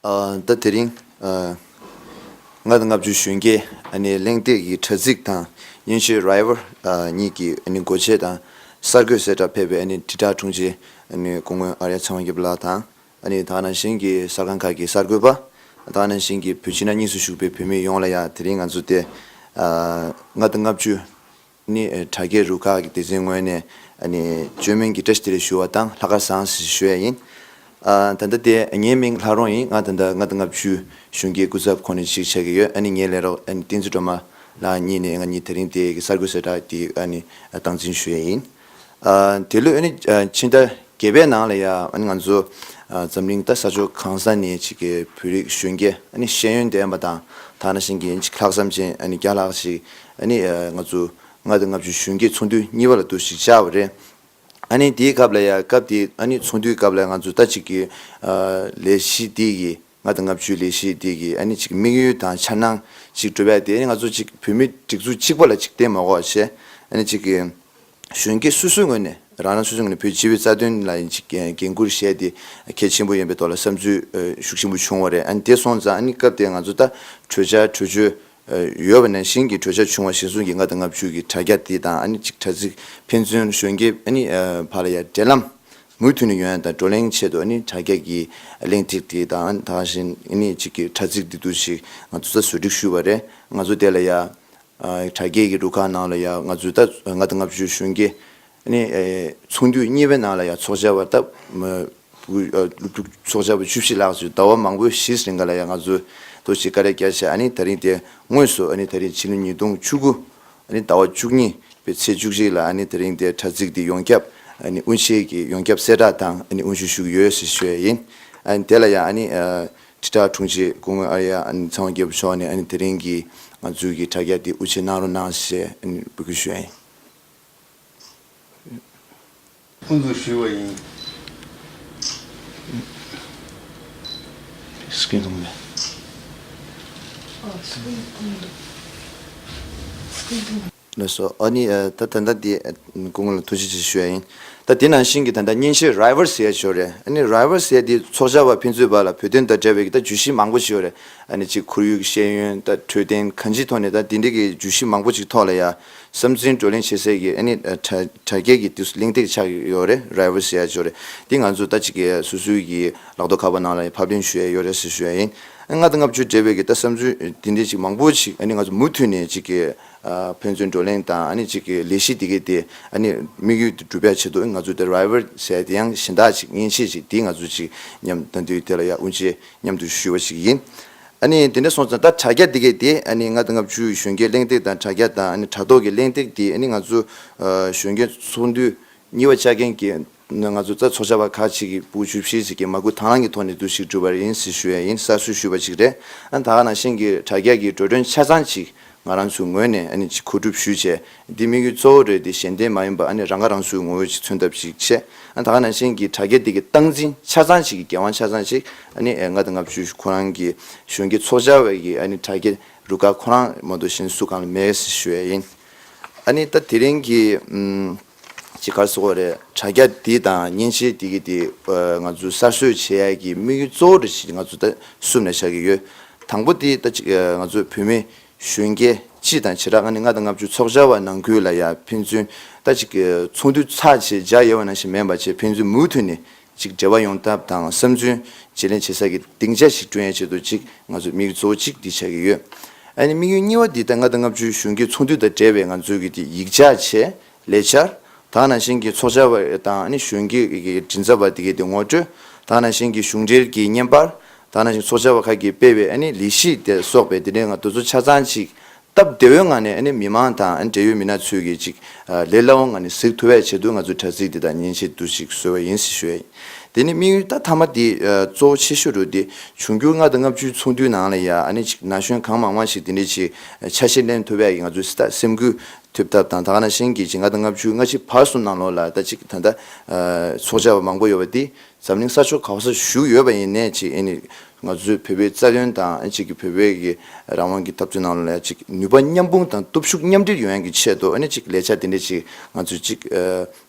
ཟླ་དེ་རིང། ང་དང་ལྔ་བཅུ་གཞོན་སྐྱེས་གླེང་སྟེགས་ཀྱི་དྲ་ཚིགས་དང་གཡོན་ཆོལ River གཉིས་ཀྱི་མགོ་བྱེད་དང་གསར་འགོད་གསལ་བསྒྲགས་ཕེབས་པའི་དྲིལ་བསྒྲགས་དྲུང་ཆེ་སྐུ་ངོ་ཨ་རྱ་ཚེ་དབང་སྐྱབས་ལགས་དང། ད་ནང་བཞིན་གྱི་གསར་ཁང་ཁག་གི་གསར་འགོད་པ། ད་ནང་བཞིན་གྱི་བོད་ཕྱི་ནང་གཉིས་སུ་བཞུགས་པའི་བོད་མི་ཡོངས་ལ་ཡང་དེ་རིང་ང་ཚོ་སྟེ། ང་དང་ལྔ་བཅུ། ནི་དྲ་རྒྱའི་རུ་ཁག་གི་སྡེ་ཚན་ངོས་ནས་བཅོས་མིན་གྱི་བཀྲ་ཤིས་བདེ་ལེགས་ཞུ་བ་དང་ལྷག་དཀར་བཟང་ཞེས་ཞུ་ཡས་ཡིན། ད་ལྟ་སྟེ་ངའི་མིང་ལྷ་རོང་ཡིན་ང་ད་ལྟ་ལྔ་དང་ལྔ་བཅུའི་གཞུང་གི་སྐུ་ཚབ་ཁོ་ནས་ཞིག་བྱེད་ཀྱི་ཡོད་ནི་ངའི་ལས་རོགས་ཏིང་ཙི་སྒྲོལ་མ་ལགས་གཉིས་ནས་ང་གཉིས་དེ་རིང་དེ་གི་གསར་འགོད་གསལ་བསྒྲགས་ཀྱི་སྟངས་འཛིན་ཞུ་ཡས་ཡིན། དེ་ལོས་ནི་ཕྱི་ཟླ་བརྒྱད་པའི་ནང་ལ་ཡང་ང་ཚོ་འཛམ་གླིང་ད་ས་ཕྱོགས་གང་ས་ནས་ཅིག་གི་བོད་རིགས་གཞོན་སྐྱེས་ཤེས་ཡོན་ལྡན་པ་དང་དག་སྣ་ཞིང་གི་ལྷག་བསམ་ཅན་བརྒྱ་ལྷག་ཅིག་ཨ་ནི། ང་ཚོ་ལྔ་དང་ལྔ་བཅུ་གཞོན་སྐྱེས་ཚོགས་འདུ་གཉིས་པ་ལ་འདུ་ཞིག་བྱ་བ་རེད། ཨ་ནི་དེའི་སྐབས་ལ་ཡ་སྐབས་དེ་ཨ་ནི་ཚོགས་འདུའི་སྐབས་ལ་ང་ཚོ་ལྟ་ཅིག་གི། ལས་གཞི་འདི་ཡི་ལྔ་དང་ལྔ་བཅུའི་ལས་གཞི་འདི་ཡི་ཨ་ནི་ཅིག་དམིགས་ཡུལ་དང་འཆར་སྣང་ཅིག་གྲུབ་པས་དེ་ནི་ང་ཚོ་ཅིག་བོད་མི་སྒྲིག་འཛུགས་གཅིག་པ་ལ་ཅིག་བརྟེན་མ་གོ་བ་ཞེས་ཨ་ནི་ཅིག་གི། གཞོན་སྐྱེས་སོ་སོའི་ངོས་ནས་རང་རང་སོ་སོའི་ངོས་ནས་བོད་སྤྱི་བའི་རྩ་དོན་ལ་ཡིན་ཅིག་འགན་འཁུར་བཞེས་ཏེ་གལ་ཆེན་པོ་ཡིན་པའི་ཐོག་ལ་བསམ་ཚུལ་ཤུགས་ཆེན་པོ་བྱུང་བ་རེད་ཨ་ནི་དེ་སོང་ཙང་ཨ་ནི་སྐབས་དེར་ང་ཚོ་ལྟ་གྲོས་བྱ་གྲོས་ཆོད་ཡོད་པ་ནས་བཞིན་གྱི་གྲོས་འཆར་བྱུང་བ་བཞིན་ཟུང་གིས་ལྔ་དང་ལྔ་བཅུ་གྱི་དྲ་རྒྱ་དེ་དང་ཨ་ནི་གཅིག་དྲ་ཚིགས་ཕན་ཚུན་གཞོན་སྐྱེས་བར་ལ་ཡང་འབྲེལ་ལམ་མུ་མཐུད་ནས་ཡོད་ན་དང་བགྲོ་གླེང་ཆེད་དུ་ཨ་ནི་དྲ་རྒྱ་ཀྱི་གླེང་སྟེགས་དེ་དང་དང་བཞིན་ཨ་ནི་གཅིག་གི་དྲ་ཚིགས་འདི་འདུག་ཞིག་ང་ཚོ་ད་གཟོད་སྒྲིག་ཞུས་པ་རེད་ང་ཚོ་དེ་ལ་ཡང་དྲ་རྒྱའི་གི་རུ་ཁག་ནང་ལ་ཡང་ང་ཚོའི་ད་གཟོད་ལྔ་དང་ལྔ་བཅུའི་གཞོན་སྐྱེས་ཨ་ནི་ཚོགས་འདུས་གཉིས་པའི་ནང་ལ་ཡང་ཚོགས་བཅར་བ་སྟབས་ཚོགས་བཅར་བ་བཅུ་བཞི་ལྷག་ཚོས་ཟླ་བ་མང་པོའི་ཕྱིས་རེ་འགའ་ལ་ཡང་ང་ཚོས་དོ་ཞིག་དཀའ་ལས་བརྒྱ་བྱས་ཨ་ནི་ད་རིང་དེ་དངོས་སུ་ཨ་ནི་ད་རིང་ཕྱི་ལོ་ཉིས་སྟོང་བཅུ་དགུ་ཨ་ནི་ཟླ་བ་བཅུ་གཉིས་པའི་ཚེས་བཅུ་གཅིག་ལ་ཨ་ནི་ད་རིང་དེ་དྲ་ཚིགས་འདི་ཡོངས་ཁྱབ་ཨ་ནི་དབུ་འབྱེད་ཀྱིས་ཡོངས་ཁྱབ་གསལ་བསྒྲགས་དང་ཨ་ནི་དབུ་འབྱེད་ཞུ་གི་ཡོད་ཞེས་ཤོད་ཡིན་ཨ་ནི་དེ་ལ་ཡང་ཨ་ནི་དྲིལ་བསྒྲགས་དྲུང་ཆེ་སྐུ་ངོ་ཨ་རྱ་ཨ་ནི་ཚང་བ་རྒྱལ་པོ་མཆོག་ནས་ཨ་ནི་ད་རིང་གི་ང་ཚོའི་གི་དྲ་རྒྱ་འདི་དབུ་འབྱེད་གནང་རོགས་གནང་ཞེས་ཨ་ནི་འབོད་སྐུལ་ཞུས་ཡིན། ཀུན་ཏུ་ཞུས་པ་ཡིན། སྐད་གདུང་མེད། ལ་སོགས་ཨ་ནི་ད་དེ་འདྲ་དེ་སྐུ་ངོ་ལ་ཐུགས་རྗེ་ཆེ་ཞུ་ཡ་ཡིན། ད་དེ་ནང་བཞིན་གྱི་ད་ལྟ་གཉེན་བཤེས་རཱི་བྷར་སེ་ཡ་ཆོས་རེད་ཨ་ནི་རཱི་བྷར་སེ་དེ་ཚོགས་བཅར་བ་ཕན་ཚུན་བར་ལ་བོད་དོན་དང་འབྲེལ་བའི་གི་ད་བརྗོད་གཞི་མང་པོ་ཞིག་ཡོད་རེད་ཨ་ནི་གཅིག་ཁོར་ཡུག་གི་ཤེས་ཡོན་ད་འཕྲོད་བསྟེན་གང་ཅིའི་ཐོག་ནས་ད་དེ་འདྲའི་གི་བརྗོད་གཞི་མང་པོ་ཅིག་ཐོག་ལ་ཡ། བསམ་ཚུལ་བགྲོ་གླེང་བྱེད་སའི་གི་ཨ་ནི་དྲ་རྒྱའི་གི་དུས་སུ་གླེང་སྟེགས་ཆགས་ཡོད་རེད་ར་བོ་ཟེར་ཡ་ཆོག་རེད་འདི་ང་ཚོ་ལྟ་ཅི་གི་སུ་སུའི་གི་ལག་ཏོ་ཁ་པ་ནང་ལ་ཕབ་གླེང་ཞུ་ཡ་ཡོད་རེད་ཟེར་ཞུ་ཡ་ཡིན་ཨ་ལྔ་དང་ལྔ་བཅུའི་འབྲེལ་བའི་གི་ལྟ་བསམ་ཚུལ་འདི་འདྲའི་ཅིག་མང་པོ་ཅིག་ཨ་ནི་ང་ཚོ་མུ་མཐུད་ནས་ཅིག་གི་ཕན་ཚུན་བགྲོ་གླེང་དང་ཨ་ནི་ཅིག་གི་ལས་གཞི་འདི་གི་དེ་ཨ་ནི་དམིགས་ཡུལ་དེ་འགྲུབ་པའི་ཆེད་དུ་ང་ཚོ་དེ་ར་བོ་ཟེར་དེ་ཡང་གཞན་དག་ཅིག་མཉེན་ཆས་ཅིག་འདི་ང་ཚོ་ཅིག་མཉམ་ད་འདུས་དེ་ལ་ཡ་དབུ་འབྱེད་མཉམ་དུ་ཞུ་བ་ཅིག་ཡིན་ཨ་ནི་དེ་ནས་སོང་ཙང་ད་དྲ་རྒྱ་འདི་གས་དེ་ཨ་ནི་ང་དང་ང་བཅུའི་གཞོན་སྐྱེས་གླེང་སྟེགས་དང་དྲ་རྒྱ་དང་ཨ་ནི་དྲ་ཐོག་གི་གླེང་སྟེགས་འདི་ཨ་ནི་ང་ཚོ་གཞོན་སྐྱེས་ཚོགས་འདུའི་གཉིས་པ་བཅའ་མཁན་གྱི་ནི་ང་ཚོ་རྩ་ཚོགས་བྱ་བ་ཁག་ཅིག་གི་པུའུ་ཇུས་བཞི་ཞིག་གིས་མ་སྐུལ་དྭང་བླང་གི་ཐོག་ནས་དུས་ཤིག་བསྒྲུབས་པ་རེད་ཡིན་ཟེར་ཞུ་ཡ་ཡིན་གསར་བཟོས་ཞུས་པ་ཅིག་རེད་ཨ་ནི་ད་ག་ནང་བཞིན་གྱི་དྲ་རྒྱ་གི་འགྲོ་གྲོན་ཆ་ཚང་ཅིག་ང་རང་ཚོའི་ངོས་ནས་ཨ་ནི་གཅིག་ཁོ་སྒྲུབ་ཞུས་བྱས། འདི་དམིགས་ཡུལ་གཙོ་བོ་རེད་དེ་གཞན་བརྟེན་མ་ཡིན་པ་ཨ་ནི་རང་ཁ་རང་གསོའི་ངོ་བོ་ཅིག་མཚོན་ཐབས་ཤིག་བྱས། ཨ་ད་ག་ནང་བཞིན་གྱི་དྲ་རྒྱ་འདི་གི་སྟངས་འཛིན་ཆ་ཚང་ཞིག་གི་རྒྱལ་དབང་ཆ་ཚང་ཞིག་ཨ་ནི་ལྔ་དང་ལྔ་བཅུ་ཁོ་རང་གི་གཞོན་སྐྱེས་ཚོགས་བཅར་བའི་གི་ཨ་ནི་དྲ་རྒྱ་རུ་ཁག་ཁོ་རང་མ་གཏོགས་གཞན་སུ་གང་ལ་མེད་ཞེས་ཨ་ནི་ད་དེ་རིང་གི། ཅི་དགར་བཟོ་བ་རེད། དྲ་རྒྱ་འདི་དང་མཉེན་ཆས་འདི་གིས་དེ་ང་ཚོའི་གསར་བཟོས་བྱེད་ཡག་གི་དམིགས་ཡུལ་གཙོ་བོ་རེ་ཞིག་ང་ཚོ་ད་བསུབ་ནས་བཞག་གི་ཡོད། དང་པོ་དེ་ད་གཅིག་ང་ཚོའི་བོད་མི་གཞོན་སྐྱེས་སྤྱི་དང་བྱེ་བྲག་ང་ནི་ལྔ་དང་ལྔ་བཅུ་ཚོགས་བཅར་བ་ནང་ཁུལ་ལ་ཡང་ཕན་ཚུན་ད་གཅིག་ཚོགས་འདུ་ཚགས་ཆེད་བྱ་ཡོད་བ་ནང་བཞིན་མེད་པ་བྱེད་ཕན་ཚུན་མུ་མཐུད་ནས་གཅིག་འབྲེལ་བ་ཡོང་ཐབས་དང་བསམ་ཚུལ་བརྗེ་ལེན་བྱེད་ས་ཀྱི་སྡིངས་ཆ་ཞིག་བསྐྲུན་ཡ་ཆེད་དུ་གཅིག་ང་ཚོས་མིག་བཟོ་གཅིག་འདི་བྱ་གི་ཡོད། ཨ་ནི་དམིགས་ཡུལ་གཉིས་བ་འདི་ལྟ་ལྔ་དང་ལྔ་བཅུའི་གཞུང་གི་ཚོགས་འདུ་དང་འབྲེལ་བའི་ང་ཚོས་ཀྱི་དེ་ཡིག་ཆ་ཆེད་ལས་འཆར་དང་ནང་བཞིན་གྱི་ཚོགས་བཅར་བ་དང་ཨ་ནི་གཞུང་གི་མགྲིན་ཚབ་པ་དེ་གའི་དེ་ངོ་སྤྲོད་དང་ནང་བཞིན་གྱི་གཞུང་འབྲེལ་གྱི་བརྙན་པར་དང་ནང་བཞིན་ཚོགས་བཅར་བ་ཁག་གིས་སྤེལ་བའི་ཨ་ནི་ལི་ཤི་དེ་སོགས་པའི་དེ་འདྲའི་ང་དོལ་ཚོགས་ཆ་ཚང་ཅིག་སྟབས་བདེ་བོའི་ངང་ནས་མི་མང་དང་འབྲེལ་ཡོད་མི་སྣ་ཚོས་ཀྱིས་ཅིག་ལས་སླ་བོའི་ངང་ནས་གཟིགས་ཐུབ་བས་ཆེད་དུ་ང་ཚོས་དྲ་ཚིགས་འདི་དག་མཉེན་ཆས་བསྡུ་ཞིག་བཟོས་བ་ཡིན་ཟེར་ཞོར། དེ་ནི་དམིགས་ཡུལ་ད་ཐ་མ་དེ་གཙོ་བོ་ཆེ་ཤོས་རུ་དེ་བྱུང་འགྱུར་ལྔ་དང་ལྔ་བཅུའི་ཚོགས་འདུའི་ནང་ལ་ཡང་ཅིག་ན་གཞོན་གང་མང་མང་ཞིག་དེ་འདྲའི་ཆེ་ཆ་ཞིག་གླེང་ཐུབ་བས་ང་ཚོས་སྲིད་ཐག་སེམས་ཁུར་ཐུབ་ཐབས་དང་ད་ག་ན་གཞན་གྱིས་ཅིག་ལྔ་དང་ལྔ་བཅུའི་སྔ་ཕྱི་བར་གསུམ་ནང་ལོགས་ལ་ད་ཅིག་ད་ལྟ་ཚོགས་བཅར་བ་མང་པོ་ཡོད་པ་དེ་འཛམ་གླིང་ས་ཕྱོགས་ག་བ་སར་བཞུགས་ཡོད་པ་ཡིན་ནས་ཅིག་ང་ཚོས་བོད་པའི་རྩ་དོན་དང་ཨ་ཅིག་གི་བོད་པའི་གི་རང་དབང་གི་འཐབ་རྩོད་ནང་ལ་ཨ་ཅིག་ནུས་པ་མཉམ་སྤུངས་དང་སྟོབས་ཤུགས་མཉམ་སྒྲིལ་ཡོང་ཡང་གི་ཆེད་དུ་ཨ་ནི་ཅིག་ལས་འཆར་དེ་འདྲས་ཅིག་ང་ཚོས་ཅིག་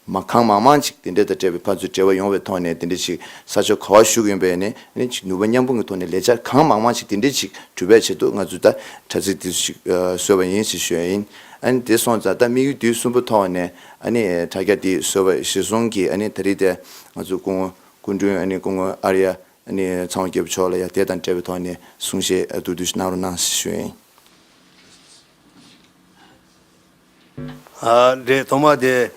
མ་གང་མང་མང་ཅིག་དེ་འདྲས་དང་འབྲེལ་བའི་ཕར་ཚུར་འབྲེལ་བ་ཡོང་བའི་ཐོག་ནས་དེ་འདྲས་ཅིག་ས་ཕྱོགས་ག་བར་བཞུགས་ཡོང་པའི་ནི་ཨ་ནི་ཅིག་ནུས་པ་མཉམ་སྤུངས་གི་ཐོག་ནས་ལས་འཆར་གང་མང་མང་ཅིག་དེ་འདྲས་ཅིག་གྲུབ་པའི་ཆེད་དུ་ང་ཚོས་ད་དྲ་ཚིགས་དེ་ཚོ་ཅིག་བཟོས་པ་ཡིན་ཞེས་ཞུས་ཡིན་ཨ་ནི་དེ་སོང་ཙང་ད་དམིགས་ཡུལ་དུས་གསུམ་པོ་ཐོག་ནས་ཨ་ནི་དྲ་རྒྱ་དེ་བཟོས་པ་གཞིར་བཟུང་གི་ཨ་ནི་ད་རིས་དེ་ང་ཚོ་སྐུ་ངོ་སྐུ་མགྲོན་ཨ་ནི་སྐུ་ངོ་ཨར་ཡ་ནི་ཚང་བ་སྐྱེས་བུ་མཆོག་ལ་ཡང་དེ་དང་བྲལ་བའི་ཐོག་ནས་གསུངས་ཞེས་བསྡུ་བསྡུ་གནང་རོགས་གནང་ཞུ་ཡིན། རེད་ཐོག་མར་དེ་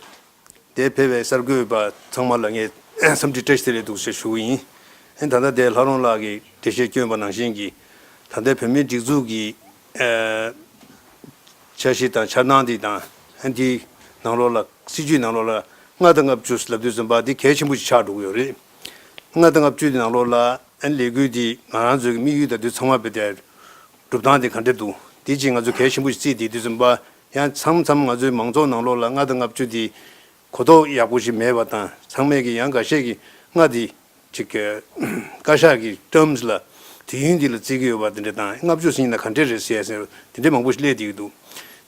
དེ་ཕེབས་པའི་གསར་འགོད་པ་ཚང་མ་ལ་ངས་འཚམས་འདྲི་བཀྲ་ཤིས་བདེ་ལེགས་འདུག་ཞེས་ཞུ་གི་ཡིན། ད་ལྟ་དེ་ལྷ་རོང་ལགས་ཀྱི་འགྲེལ་བཤད་བསྐྱོན་པ་ནང་བཞིན་གྱི་ད་ལྟའི་བོད་མིའི་སྒྲིག་འཛུགས་ཀྱི་འཆར་གཞི་དང་འཆར་སྣང་དེ་དང་དེའི་ནང་ལོགས་ལ་སྲིད་ཇུས་ནང་ལོགས་ལ་ལྔ་དང་ལྔ་བཅུ་ལབ་དུས་སུ་འབའ་འདི་གལ་ཆེན་པོ་ཞིག་ཆགས་འགྲོ་གི་ཡོད་རེད། ལྔ་དང་ལྔ་བཅུའི་ནང་ལོགས་ལ་ལས་འགུལ་འདིས་ང་རང་ཚོའི་དམིགས་ཡུལ་དང་དུས་མཚམས་བར་བལྟས། སྒྲུབ་སྟངས་དེ་ག་འདྲས་འདུག་དེ་རྗེས་ང་ཚོས་གལ་ཆེན་པོ་ཞིག་བརྩིས་ཏེ་དུས་མཚམས་པ་ཡང་ཚང་མཚམས་ང་ཚོའི་མང་ཚོགས་ནང་ལོགས་ལ་ལྔ་དང་ལྔ་བཅུ་འདི་གོ་རྟོགས་ཡག་པོ་ཞིག་མེད་པ་དང་ཚང་མས་ཀྱི་ཡང་འགའ་ཤས་ཀྱིས་ལྔ་འདི་གཅིག་བཀའ་ཤག་གི terms ལ་དུས་ཡུན་འདི་ལ་བརྩི་གི་ཡོད་པ་དེ་འདྲས་དང་ལྔ་བཅུ་ཟིན་ན་ག་འདྲས་རེད་ཟེར་ཡ་ཟེར་དེ་འདྲས་མང་པོ་ཞིག་གླས་དེ་ཡོད་འདུག་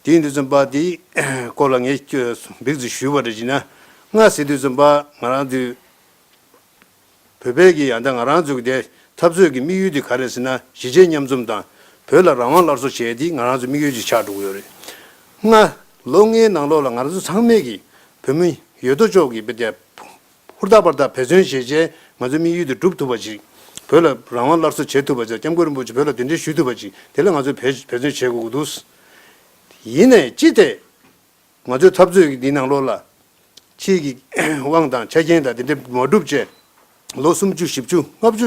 དེ་ཡིན་དུས་མཚམས་པ་འདིའི་སྐོར་ལ་ངས་འབིགས་བརྩི་ཞུས་པ་འདྲ་བྱིན་ན་ལྔ་ཟེར་དུས་མཚམས་པ་ང་རང་དུས་བོད་བོད་ཀྱི་ཡང་དག་ང་རང་འཛུགས་དེ་འཐབ་རྩོད་ཀྱི་དམིགས་ཡུལ་དེ་ག་རེད་ཟེར་ན་གཞིས་བྱེས་མཉམ་འཛོམས་དང་བོད་ལ་རང་དབང་སླར་གསོ་བྱེད་དེ་ང་རང་ཚོའི་དམིགས་ཡུལ་གྱི་ཆ་འགྲོ་གི་ཡོད་རེད། ལྔ། ལོ་ལྔའི་ནང་ལོགས་ལ་ང་རང་ཚོ་ཚང་མས་ཀྱིས་བོད་མི་ཡོད་དོ་ཅོག་གིས་བོད་དེ་ཧུར་ཐག་པར་ཐག་བེད་བརྩོན་བྱས་རྗེས་ང་ཚོའི་དམིགས་ཡུལ་དེ་འགྲུབ་ཐུབ་པ་ཅིག་བོད་ལ་རང་དབང་སླར་གསོ་བྱེད་ཐུབ་པ་ཅིག ྋསྐྱབས་མགོན་རིན་པོ་ཆེ་བོད་ལ་དོན་འགྲེལ་ཞུ་ཐུབ་པ་ཅིག་དེ་ལ་ང་ཚོས་བེད་བརྩོན་བྱེད་དགོས་ཀྱི་འདུག་ཡིན་ནས་ཅི་སྟེ། ང་ཚོས་འཐབ་རྩོད་ཀྱི་འདིའི་ནང་ལོགས་ལ། ཁྱེད་ཀྱི་དབང་དང་ཆ་རྐྱེན་དང་དེ་འདྲས་མ་བསྒྲུབས་བཅས། ལོ་སུམ་བཅུ་བཞི་བཅུ་ལྔ་བཅུ་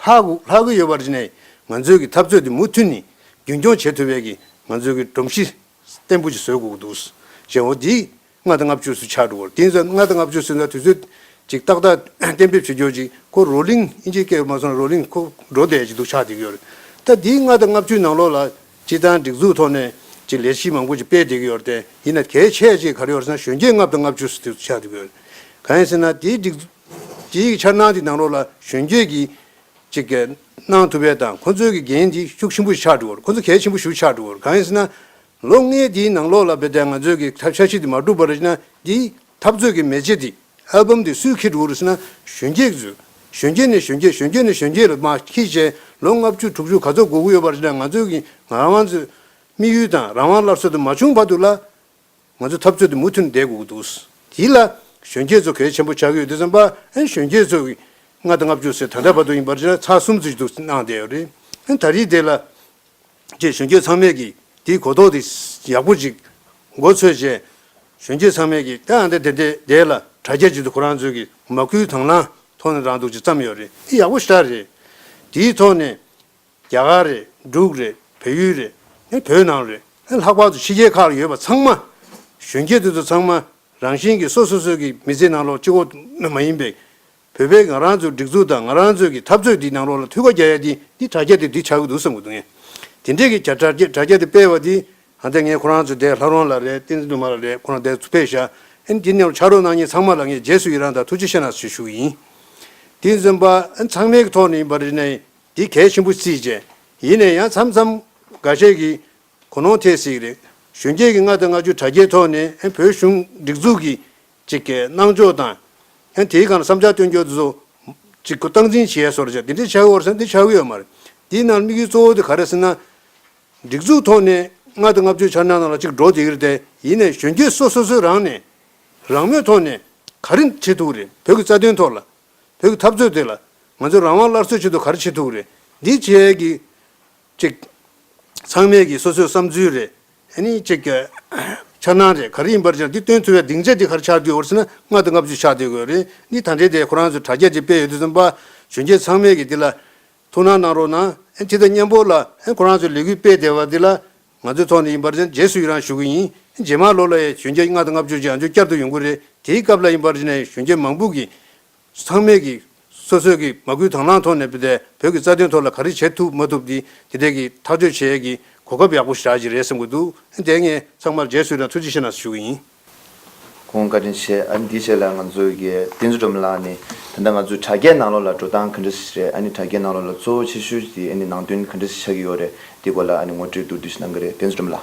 ལྷག་གི་ཡོལ་བར་ནས་ང་ཚོས་ཀྱི་འཐབ་རྩོད་འདི་མུ་མཐུད་ནས་རྒྱུན་སྐྱོང་བྱེད་ཐུབ་པའི་ཀྱི་ང་ཚོས་ཀྱི་སྒྲོམ་གཞི་བརྟན་པོ་ཞིག་བཟོས་དགོས་ཀྱི་འདུག་གཞན་འོ་དེ་ལྔ་དང་ལྔ་བཅུ་སུ་ཆགས་འགྲོ་བར་དེ་ལྔ་དང་ལྔ་བཅུ་སུ་ལ་དུས་ཚོད་ཅིག་ཏག་ཏག་གཏན་འབེབས་བྱེད་རྒྱུར་ཅིག་ཁོ་རོ་ལིང་ཨིན་ཇིའི་སྐད་རུ་མ་སོང་ན་རོ་ལིང་ཁོ་འགྲོ་བསྡད་ཅིག་འདུག་ཆགས་འདུག་ཡོད་རེད་ད་འདིའི་ལྔ་དང་ལྔ་བཅུའི་ནང་ལོགས་ལ། སྤྱི་བཏང་སྒྲིག་འཛུགས་ཐོག་ནས་ཀྱི་ལས་གཞི་མང་པོ་ཅིག་སྤེལ་འདེགས་ཡོད་རེད་དེ་ཡིན་ན་དེའི་ཆད་ཅིག་ག་རེ་ཡོད་ཟེར་ན་གཞོན་སྐྱེས་ལྔ་བདོ་ལྔ་བཅུ་སུ་ཆགས་འདུག་གི་ག་ཡིན་ཟེར་ན་དེའི་སྒྲིག་འཛུགས་ཀྱི་འཆར་སྣང་དེ་ནང་ལོགས་ལ་གཞོན་སྐྱེས་ཀྱི་ཅིག་གི་གནང་ཐུབ་པའི་དང་ཁོ་ཚོའི་གི་འགན་དེ་ཤུགས་ཆེན་པོ་ཆགས་འདུག་གི་ཁོ་ཚོ་གལ་ཆེན་པོ་ཞུ་ཆགས་འདུག་གི་ག་ཡིན་ཟེར་ན། ལོ་ལྔའི་དེའི་ནང་ལོགས་ལ་བལྟས་ང་ཚོས་གི་འཆར་གཞི་དེ་མ་གྲུབ་པར་ཡིན་ན་དེའི་འཐབ་རྩོད་ཀྱི་མེ་ལྕེ་དེ། ཨལ་བུམ་འདི་སུས་ཁེད་འགྲོ་རུ་སྲིད་ན་གཞོན་སྐྱེས་ཀྱིས་བཟོས། གཞོན་སྐྱེས་ནས་གཞོན་སྐྱེས་གཞོན་སྐྱེས་ནས་གཞོན་སྐྱེས་ལ་མ་ཁེད་བྱས་ལོ་ལྔ་བཅུ་དྲུག་ཅུ་ག་ཚོད་འགོར་གི་ཡོད་པ་རེད་ན་ང་ཚོས་ཀྱིས་ང་རང་ཚོས་དམིགས་ཡུལ་དང་རང་དབང་སླར་གསོ་དེ་མ་བྱུང་བར་དུ་ལ། ང་ཚོས་འཐབ་རྩོད་དེ་མུ་མཐུད་ནས་བསྡད་དགོས་ཀྱི་འདུག་དེ་ལ་གཞོན་སྐྱེས་ཚོ་གལ་ཆེན་པོ་ཆགས་ཀྱི་ཡོད་དེ་བསམ་པ་ཨན་གཞོན་སྐྱེས་ཚོས་ཀྱིས་ལྔ་དང་ལྔ་བཅུ་ཟེར་ད་ལྟ་བར་དུ་ཡིན་པར་ཆ་གསུམ་ཚོ་ཞིག་ཏུ་སྣང་བསྡད་ཡོད་རེད་ཨན་ད་རེས་དེ་ལ་ཅེས་གཞོན་སྐྱེས་ཚང་མས་ཀྱིས་དེའི་གོ་རྟོགས་དེ་ཡག་པོ་ཅིག་མགོ་ཚོས་བྱས། གཞོན་སྐྱེས་ཚང་མས་ཀྱིས་ཨ་འདི་འདི་འདི་ལ་དྲ་རྒྱ་བྱེད་དུ་ཁོ་རང་ཚོས་ཀྱི་མ་སྐུལ་དང་བླངས་ཐོག་ནས་རང་སྡུག་ཅིག་བརྩམས་ཡོད་རེད་འདི་ཡག་པོ་ཞིག་རེད། དེའི་ཐོག་ནས། རྒྱ་གར་རེད་འབྲུག་རེད་བལ་ཡུལ་རེད་ཨེ་བོད་ནང་རེད་ཨེ་ལྷག་པར་དུ་ཕྱི་རྒྱལ་ཁག་ལ་ཡོད་པ་ཚང་མ། གཞོན་སྐྱེས་དེ་ཚོ་ཚང་མ་རང་བཞིན་གྱིས་སོ་སོ་སོའི་ཀྱི་མི་ཚེའི་ནང་ལོག་ཅིག་འོག་མ་ཡིན་པའི། བོད་པས་ང་རང་ཚོའི་སྒྲིག་འཛུགས་དང་ང་རང་ཚོའི་གི་འཐབ་རྩོད་འདིའི་ནང་རོགས་ལ་ཐུགས་ཁ་རྒྱག་ཡ་དེ་འདི་དྲ་རྒྱ་དེ་འདི་ཆགས་གི་འདུག་བསམ་གི་འདུག་ངས། དེ་འདྲས་གི་དྲ་རྒྱ་དྲ་རྒྱ་དེ་སྤེལ་བ་དེ། ཧ་འདས་ངས་ཁོ་རང་ཚོའི་འདས་ལྷ་རོང་ལ་རེད་བསྟན་འཛིན་དུ་མ་ལ་རེད་ཁོ་རང་འདས་ཚུར་ཕེབས་ཤག་ཨན་དེ་ནས་ཕྱག་རོགས་གནང་ཉིན་ཚང་མ་ལ་ངས་རྗེས་སུ་ཡི་རང་དང་ཐུགས་རྗེ་ཆེ་ནང་ཆེ་ཞུ་གི་ཡིན། དེ་འཛིན་པ་ཨན་ཚང་མའི་གི་ཐོག་ནས་ཡིན་པ་རེད་ན་ཡིན་དེ་གལ་ཆེན་པོ་རྩིས་བྱས་ཡིན་ནས་ཡང་མཚམས་མཚམས་འགའ་ཤས་གི་གོ་ནོང་ཐེབས་སྲིད་གི་རེད་གཞོན་སྐྱེས་གི་ལྔ་དང་ལྔ་བཅུ་དྲ་རྒྱའི་ཐོག་ནས་ཨན་བོད་གཞུང་སྒྲིག་འཛུགས་གི་ཅིག་གི་སྣང་འཇོག་དང། ཡང་དེའི་སྒང་ལ་བསམ་འཆར་བཏོན་རྒྱུ་དེ་ཚོ། ཅིག་གུ་སྟངས་འཛིན་བྱས་སོར་བྱས་དེ་འདྲའི་ཆག་གི་བོར་ས་འདི་ཆག་གི་ཡོད་མ་རེད། དེའི་ནང་ལ་དམིགས་ཡུལ་གཙོ་བོ་དེ་ག་རེད་ཟེར་ན། སྒྲིག་འཛུགས་ཐོག་ནས་ལྔ་དང་ལྔ་བཅུའི་འཆར་སྣང་ནང་ལ་ཅིག་འགྲོ་དེ་གི་རེད་དེ་ཡིན་ནས་གཞོན་སྐྱེས་སོ་སོ་སོའི་རང་ནས། རང་མོས་ཐོག་ནས་ག་རེ་བྱེད་ཐུབ་ཀི་རེད་བོད་ཀྱི་རྩ་དོན་ཐོག་ལ། བོད་ཀྱི་འཐབ་རྩོད་དེ་ལ། ང་ཚོའི་རང་དབང་སླར་གསོའི་ཆེད་དུ་ག་རེ་བྱེད་ཐུབ་ཀི་རེད་འདི་བྱས་ཀི། ཅིག། ཚང་མས་ཀྱིས་སོ་སོའི་བསམ་ཚུལ་རེ། ནི། ཅིག། འཆར་སྣང་རེ་ག་རེ་ཡིན་པར་ཅིག་འདི་སྟོན་ཚུལ་བའི་སྡིངས་ཆ་འདི་གར་ཆགས་དུས་འོར་སྲིད་ན་ལྔ་དང་ལྔ་བཅུ་ཆགས་སྡོད་དགོས་རེད་ནི་ད་འབྲེལ་དེ་ཁོ་རང་ཚོའི་དྲ་རྒྱ་འདི་སྤེལ་ཡོད་དུས་སུ་པར་གཞོན་སྐྱེས་ཚང་མས་ཀྱིས་འདི་ལ། ཐུགས་སྣང་གནང་རོགས་གནང། ཅིག་ད་སྙན་པོ་ལ། ཁོ་རང་ཚོའི་ལས་འགུལ་སྤེལ་བསྡད་པ་འདི་ལ། ང་ཚོའི་ཐོག་ནས་ཡིན་པར་ཅིག་རྗེས་སུ་ཡི་རང་ཞུ་གི་ཡིན། རྗེས་མར་ལོ་ལ་ཡི་གཞོན་སྐྱེས་ལྔ་དང་ལྔ་བཅུ་ཅིག་ང་ཚོའི་བསྐྱར་དུ་ཡོང་གི་རེད་དེའི་སྐབས་ལ་ཡིན་པར་ཅིག་ནས་གཞོན་སྐྱེས་མང་པོ་ཀྱིས། ཚང་མས་ཀྱིས་སོ་སོས་ཀྱིས་མ་སྐུལ་དང་བླངས་ཐོག་ནས་བོད་ཀྱི་རྩ་དོན་ཐོག་ལ་ག་རེ་བྱེད་ཐུབ་མ་ཐུབ་འདི་དེ་འད་ཀྱིས་ཐག་གཅོད་བྱེད་ཡས་ཀྱི་གོ་སྐབས་ཡག་པོ་ཞིག་རག་གྱི་རེད་བསམ་གྱི་འདུག་འད་ངས་ཚང་མར་རྗེས་སུ་ཡི་རང་ཐུགས་རྗེ་ཆེ་ནང་ཞུ་གྱི་ཡིན། ཁོང་བཀའ་དྲིན་ཆེ་ཨ་ནི་དེ་བྱས་ལ་ང་ཚོའི་གི་བསྟན་འཛུ་འགྲོམ་ལགས་ནི་ད་ནྡ་ང་ཚོའི་དྲ་རྒྱའི་ནང་ལོགས་ལ་འགྲོ་སྟངས་ག་འདྲ་ཞིག་རེད་ཨ་ནི་དྲ་རྒྱའི་ནང་ལོགས་ལ་གཙོ་བོ་ཆེ་ཤོས་ཀྱི་དེ་ཨ་ནི་ནང་དོན་ག་འདྲ་ཞིག་ཆགས་ཀྱི་ཡོད་རེད་དེ་སྐོར་ལ་ཨ་ནི་ངོ་སྤྲོད་མདོར་བསྡུས་ཞིག་གནང་གི་རེད་བསྟན་འཛུ་འགྲོམ་ལགས།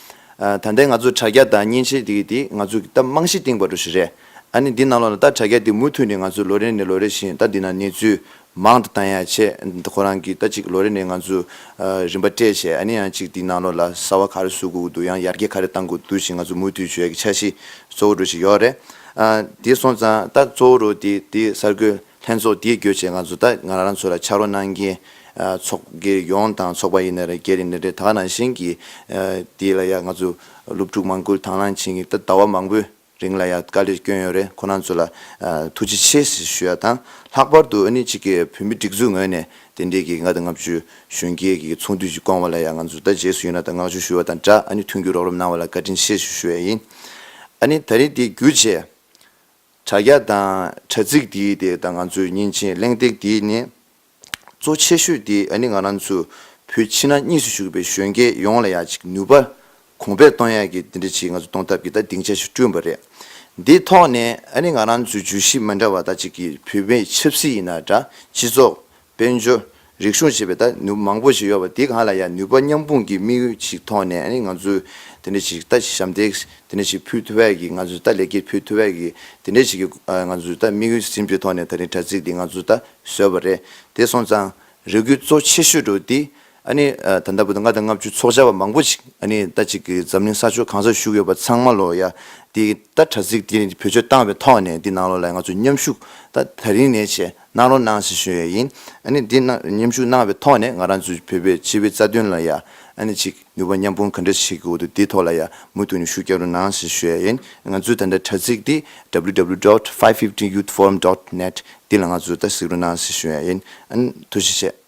ད་ལྟའི་ང་ཚོ་དྲ་རྒྱ་དང་མཉེན་ཆས་འདི་དེ་ང་ཚོ་གིས་ད་རྨང་གཞི་བཏིང་བ་འགྲོ་ཞིག་རེད། ཨ་ནི་འདི་གནང་ལོ་ན་ད་དྲ་རྒྱ་འདི་མུ་མཐུད་ནས་ང་ཚོས་ལོ་རེ་ནས་ལོ་རེ་བཞིན་ད་འདི་ན་གནས་ཚུལ་མང་དུ་བཏང་ཡག་ཆེད་ཁོ་རང་གིས་ད་ཅིག་ལོ་རེ་ནས་ང་ཚོས་རིམ་པ་སྤྲད་བྱས་ཨ་ནི་ཡང་ཅིག་འདི་གནང་ལོ་ལ་གསར་བ་ག་རེ་བཟོ་དགོས་ཀྱི་འདུག་ཡང་ཡར་རྒྱས་ག་རེ་གཏང་དགོས་ཀྱི་འདུག་ཞེས་ང་ཚོས་མུ་མཐུད་བྱོས་ཀྱི་འཆར་གཞི་གཙོ་བོ་འགྲོ་བཞིན་ཡོད་རེད། དེ་སོང་ཙང་ད་གཙོ་བོ་རུ་དེ་དེ་གསར་འགོད། ལྷན་ཚོགས་འདིའི་གྱོད་ཆེ་ཁག་ཚོ་ད་ང་རང་ཚོ་ལ་ཕྱག་རོགས་གནང་མཁན་ཚོགས་དགེ་ཡོངས་དང་ཚོགས་པ་ཡིན་ན་རེད་རྒྱ་རིགས་ནི་རེད་ད་ནང་བཞིན་གྱི་འདི་ལ་ཡ་ང་ཚོ་སློབ་ཕྲུག་མང་ཀུན་དང་ལང་ཆེན་གྱི་ད་ཟླ་བ་མང་པོའི་རིང་ལ་ཡ་དཀའ་ལས་སྐྱོན་ཡོད་རེད་ཁོ་ནང་ཚོ་ལ་ཐུགས་རྗེ་ཆེ་ཞེས་ཞུ་ཡ་དང་ལྷག་པར་དུ་ཨ་ནི་གཅིག་གི་བོད་མི་སྒྲིག་འཛུགས་ངོས་ནས་དེ་འདྲའི་གྱི་ང་ད་ལྔ་བཅུ་གཞོན་སྐྱེས་གྱི་ཚོགས་འདུས་ཀྱི་སྐོང་བ་ལ་ཡ་ང་ཚོ་ད་རྗེས་སུ་ཡིན་ན་ད་བསྔགས་བརྗོད་ཞུ་བ་དང་སྦྲགས་ཨ་ནི་མཐུན་འགྱུར་རོགས་རམ་གནང་བ་ལ་བཀའ་དྲིན་ཆེ་ཞེས་ཞུ་ཡ་ཡིན་ཨ་ནི་ད་རེས་འདི་གྱོད་ཆེ་དྲ་རྒྱ་དང་དྲ་ཚིགས་འདི་དེ་ད་ང་ཚོའི་ཉིན་བྱེད་གླེང་སྟེགས་འདི་ནི་གཙོ་ཆེ་ཤོས་དེ་ནི་ང་རང་ཚོ་བོད་ཕྱི་ནང་གཉིས་སུ་བཞུགས་པའི་གཞོན་སྐྱེས་ཡོངས་ལ་ཡང་ཅིག་ནུས་པ་གོང་འཕེལ་གཏོང་ཡག་གི་འདི་འདྲ་ཅིག་ང་ཚོ་གཏོང་ཐབས་ཀྱི་ད་སྡིངས་ཆ་ཞིག་བསྐྲུན་པ་རེད། འདི་ཐོག་ནས་ནི་ང་རང་ཚོའི་བརྗོད་གཞི་མི་འདྲ་བ་ད་ཅིག་གིས་བོད་མིའི་ཆབ་སྲིད་ཡིན་ན་འདྲ་སྤྱི་ཚོགས་དཔལ་འབྱོར། རིག་གཞུང་ཞེས་པའི་ད་ནུབ་མང་པོ་ཞིག་ཡོད་པ་འདི་གང་ལ་ཡང་ནུས་པ་མཉམ་སྤུངས་ཀྱི་དམིགས་ཡུལ་ཞིག་ཐོག་ནས་ནི་ང་ཚོས་དེ་འདྲ་ཞིག་ད་ཞབས་འདེགས་དེ་འདྲ་ཞིག་ཕུལ་ཐུབ་པས་ཀྱི་ང་ཚོས་ད་ལེགས་སྐྱེས་ཕུལ་ཐུབ་པས་ཀྱི་དེ་འདྲ་ཞིག་གི་ང་ཚོས་ད་དམིགས་ཡུལ་ཟིན་པའི་ཐོག་ནས་ད་རིང་དྲ་ཚིགས་འདི་ང་ཚོས་ད་བཟོས་པ་རེད་དེ་སོང་ཙང་རེ་སྐུལ་གཙོ་ཆེ་ཤོས་འགྲོ་འདི་ཨ་ནི། ད་ལྟ་བུད་ན་ལྔ་དང་ལྔ་བཅུ་ཚོགས་བཅར་བ་མང་པོ་ཞིག་ཨ་ནི་ད་ཅིག་གི་འཛམ་གླིང་ས་ཕྱོགས་གང་སར་བཞུགས་ཡོད་པ་ཚང་མ་ལོ་ཡ། འདི་ལྟར་དྲ་ཚིགས་འདི་ནི་བེད་སྤྱོད་བཏང་བའི་ཐོག་ནས་འདི་གནང་རོགས་ལ་ང་ཚོས་མཉམ་ཞུགས་ད་ད་རིང་ནས་བྱས་གནང་རོགས་གནང་ཞེས་ཞུ་ཡས་ཡིན་ཨ་ནི་འདི་གནང་མཉམ་ཞུགས་གནང་བའི་ཐོག་ནས་ང་རང་ཚོའི་བོད་པའི་སྤྱི་བའི་རྩ་དོན་ལ་ཡ། ཨ་ནི་ཅིག་ནུས་པ་མཉམ་སྤུངས་ག་འདྲ་བྱེད་ཀྱི་འོ་དོ་འདི་ཐོག་ལ་ཡ་མུ་མཐུད་ནས་ཞུ་རྒྱག་རོགས་གནང་ཞེས་ཞུ་ཡས་ཡིན་ང་ཚོའི་ད་ལྟ་དྲ་ཚིགས་འདི www dot five fifteen youth forum dot net འདི་ལ་ང་ཚོས་ད་གཟིགས་རོགས་གནང་ཞེས་ཞུ་ཡས་ཡིན་ཨ་ནི་ཐུགས་རྗེ་ཆེ།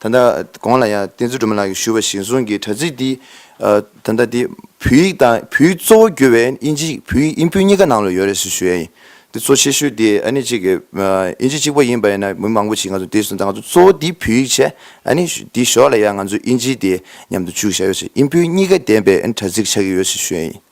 ད་ལྟ་གོང་ལ་ཡང་བསྟན་འཛིན་སྒྲོལ་མ་ལགས་ཀྱིས་ཞུས་པ་བཞིན་གསུང་གི་དྲ་ཚིགས་འདི་ད་ལྟ་འདི་བོད་ཡིག་དང་བོད་ཡིག་གཙོ་བོ་བསྒྱུར་བའི་དབྱིན་ཇི་ཡིག་བོད་ཡིག་དབྱིན་བོད་གཉིས་ཀ་ནང་ལ་ཡོད་རེད་ཞེས་ཞུས་ཡ་ཡིན། འདི་གཙོ་ཆེ་ཤོས་འདི་ཨ་ནི་གཅིག་གི་དབྱིན་ཇི་གཅིག་པོ་ཡིན་པ་ཡིན་ན་མི་མང་པོ་ཞིག་ང་ཚོ་འདི་གསུང་ད་ང་ཚོ་གཙོ་བོ་འདི་བོད་ཡིག་ཆེད་ཨ་ནི་འདི་ཞོར་ལ་ཡང་ང་ཚོ་དབྱིན་ཇི་འདི་མཉམ་དུ་བཅུག་བཞག་ཡོད་ཞེས་དབྱིན་བོད་གཉིས་ཀ་ལྡན་པའི་ཨ་ནི་དྲ་ཚིགས་ཆགས་ཀྱི་ཡོད་ཞེས་ཞུས་ཡ་ཡིན།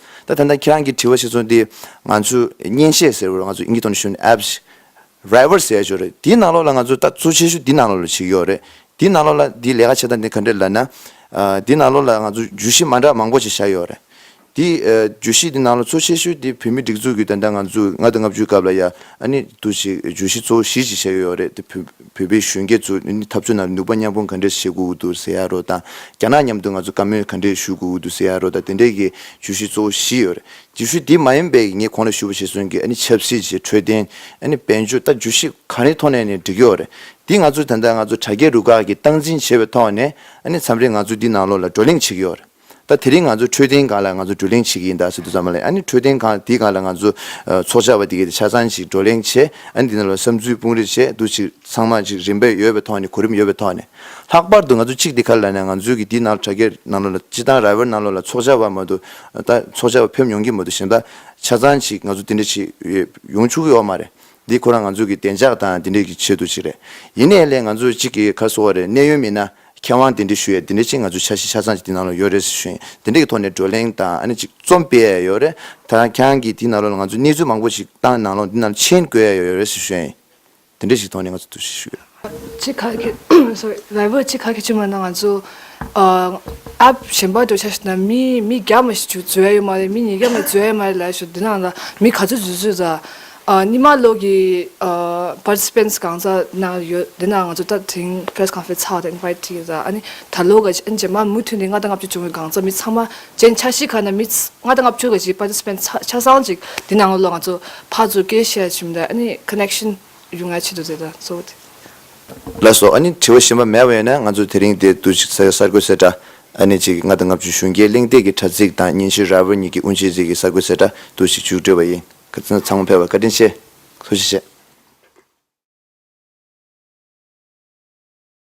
ད་ཐེངས་ཁྱེད་རང་གིས་དྲི་བ་ཞིག་ཚུགས་འདི། ང་ཚོས་བརྙན་ཤེལ་ཟེར་བ་རུ་ང་ཚོས་ཡིན་གྱི་དོན་ཞུ་ནས Apps། Driver ཟེར་ཡ་ཆོག་རེད་དེའི་ནང་ལོགས་ལ་ང་ཚོས་ལྟ་ཚུལ་ཆེ་ཤོས་དེའི་ནང་ལོགས་ལ་ཞིག་ཡོད་རེད། དེའི་ནང་ལོགས་ལ་དེའི་ལས་ཀ་བྱེད་སྟངས་དེ་ག་འདྲ་ལབ་ན། དེའི་ནང་ལོགས་ལ་ང་ཚོས་བརྗོད་གཞི་མ་འདྲ་མང་པོ་ཞིག་བཞག་ཡོད་རེད། དེའི་བརྗོད་གཞི་དེའི་ནང་ལོགས་གཙོ་ཆེ་ཤོས་དེ་བོད་མིའི་སྒྲིག་འཛུགས་ཀྱི་ད་ལྟ་ང་ཚོས་ལྔ་དང་ལྔ་བཅུའི་སྐབས་ལ་ཡ་ཨ་ནི་དུ་ཞིག་བརྗོད་གཞི་གཙོ་བོ་བཞི་ཞིག་བཞག་ཡོད་རེད་དེ་བོད། བོད་པའི་གཞོན་སྐྱེས་ཚོ་ནི་འཐབ་རྩོད་ནང་ནུས་པ་མཉམ་སྤུངས་ག་འདྲས་བྱེད་དགོས་ཀྱི་འདུག་ཟེར་ཡག་རོགས་དང། རྒྱ་ནག་མཉམ་དུ་ང་ཚོ་བཀའ་མོལ་ག་འདྲས་ཞུ་དགོས་ཀྱི་འདུག་ཟེར་ཡག་རོགས་དང་དེ་འདྲས་ཀྱི་བརྗོད་གཞི་གཙོ་བོ་བཞི་ཡོད་རེད། བརྗོད་གཞི་དེ་མ་ཡིན་པའི་ངས་གོང་ལ་ཞུས་པ་ཞིག་སོན་གི་ཨ་ནི་ཆབ་སྲིད་ཀྱི་འཕྲོད་བསྟེན། ཨ་ནི་དཔལ་འབྱོར་ལྟ་བརྗོད་གཞི་ག་རེའི་ཐོག་ནས་ནས་འགྲིག་ཡོད་རེད། དེ་ང་ཚོས་ད་ལྟ་ང་ཚོ་དྲ་རྒྱའི་རུ་ཁག་གིས་སྟངས་འཛིན་བྱེད་པའི་ཐོག་ནས་ཨ་ནི་མཚམས་རེ་ང་ཚོས་དེའི་ནང་ལོགས་ལ་བགྲོ་གླེང་བྱེད་ཀྱི་ཡོད་རེད། ད་དེ་རིང་ང་ཚོ་འཕྲོད་བསྟེན་སྒང་ལ་ང་ཚོ་བགྲོ་གླེང་བྱེད་ཀྱི་ཡིན་ད་ཟེར་དུས་ཙམ་མ་ལས་ཨ་ནི་འཕྲོད་བསྟེན་སྒང་འདི་སྒང་ལ་ང་ཚོ་ཚོགས་བཅར་བ་འདི་གས་ཆ་ཚང་ཅིག་བགྲོ་གླེང་བྱས་ཨ་ནི་འདི་ནང་ལ་བསམ་ཚུལ་སྤུངས་རེ་བྱས་འདུག་ཅིག་ཚང་མ་ཅིག་རིམ་པས་ཡོད་པའི་ཐོག་ནས་གོ་རིམ་ཡོད་པའི་ཐོག་ནས། ལྷག་པར་དུ་ང་ཚོ་གཅིག་འདི་ག་ལ་ནས་ང་ཚོའི་གི་འདི་ནང་ལ་དྲ་རྒྱའི་ནང་ལོ་ལ་སྤྱི་བཏང་ར་བའི་ནང་ལོ་ལ་ཚོགས་བཅར་བ་མ་གཏོགས་ད་ཚོགས་བཅར་བ་ཕེབས་མྱོང་གི་མ་འདུག་གཞན་ད་ཆ་ཚང་ཅིག་ང་ཚོ་འདི་འདྲ་ཅིག་ཡོང་ཆུག་གི་ཡོད་མ་རེད་འདི་ཁོ་རང་ང་ཚོའི་གི་བདེ་འཇགས་དང་འདི་འདྲ་གི་ཆེད་དུ་ཅིག་རེད་ཡིན་ནའི་ལས་ང་ཚོ་གཅིག་གི་ག་གསོ་བ་རེད་གནས་ཡོད་མིན་ན་མཁས་དབང་འདི་འདྲས་ཞུ་ཡས་འདི་འདྲས་ཅིག་ང་ཚོའི་ཆ་ཤས་ཆ་ཚང་ཅིག་འདི་ནང་ལ་ཡོད་རེད་ཟེར་ཞིང་འདི་འདྲས་ཀྱི་ཐོག་ནས་བགྲོ་གླེང་དང་ཨ་ནི་ཅིག་རྩོམ་སྤེལ་ཡས་ཡོད་རེད་ད་རང་ཁྱང་གིས་འདི་ནང་ལོགས་ལ་ང་ཚོས་གནས་ཚུལ་མང་པོ་ཞིག་ཏང་ནང་ལོགས་འདི་ནང་ལ་མཆན་དགོས་ཡས་ཡོད་རེད་ཟེར་ཞིང་འདི་འདྲས་ཞིག་ཐོག་ནས་ང་ཚོས་འདུ་ཤེས་ཞུ་གི་རེད། ཅིག་ཁ་གི sorry ལས་བོད་ཅིག་ཁ་གི་ཆུ་མ་ནང་ང་ཚོ App གཞན་པ་འགྲོ་ཆ་ཞིག་ན་མི་མི་བརྒྱ་མ་ཞིག་འཛུལ་ཡས་ཡོད་མ་རེད་མི་ཉིས་བརྒྱ་མ་འཛུལ་ཡས་མ་རེད་ལས་ཞུ་འདི་ནང་ལ་མི་ག་ཚོད་འཛུལ་འཛུལ་ཟ། ཉི་མ་ལོག་གི Participants གང་ཟག་ན་ཡོད་དེ་ན་ང་ཚོ་ད་ཐེངས Press Conference ཚགས་ཏེ Invite བྱས་ཡོད་ད་ནི་ད་ལོ་ག་ཅེས་ཨན་ཇེ་མ་མུ་མཐུད་ནས་ལྔ་དང་ལྔ་བཅུ་བྱུང་བའི་གང་ཟག་མི་ཚང་མ་བཅས་འཆར་གཞི་ཁ་ན་མི་ལྔ་དང་ལྔ་བཅུ་ག་ཅིག Participant ཆ་ཚང་ཅིག་དེ་ནང་ལོག་ང་ཚོ་ཕ་ཚོ་སྐད་བཤད་བཞིན་པ་ཨ་ནི Connection ཡོང་ཡ་ཆེད་དུ་བྱས་ད་གཙོ་བོ་དེ། ལ་སོགས་ཨ་ནི་དྲི་བ་བཞིན་པ་མེད་པ་ཡོད་ན་ང་ཚོ་དེ་རིང་དེ་བསྡུ་ཅིག་ས་ཡོ་གསར་འགོད་ཚེ་དྲ་ཨ་ནི་ཅིག་ལྔ་དང་ལྔ་བཅུ་གཞུང་སྐྱེལ་གླེང་སྟེགས་ཀྱི་དྲ་ཚིགས་དང་ཉིན་ཞིག་ར་བོར་ཉིད་ཀྱི་དབུ་འབྱེད་ཚིག་གི་གསར་འགོད་ཚེ་དྲ་བསྡུ་ཅིག་མཇུག་སྒྲིལ་བ་ཡིན། བཀའ་དྲིན་ཆེ། ཚང་མ་ཕེབས་པར་བཀའ་དྲིན་ཆེ། ཐུགས་རྗེ་ཆེ།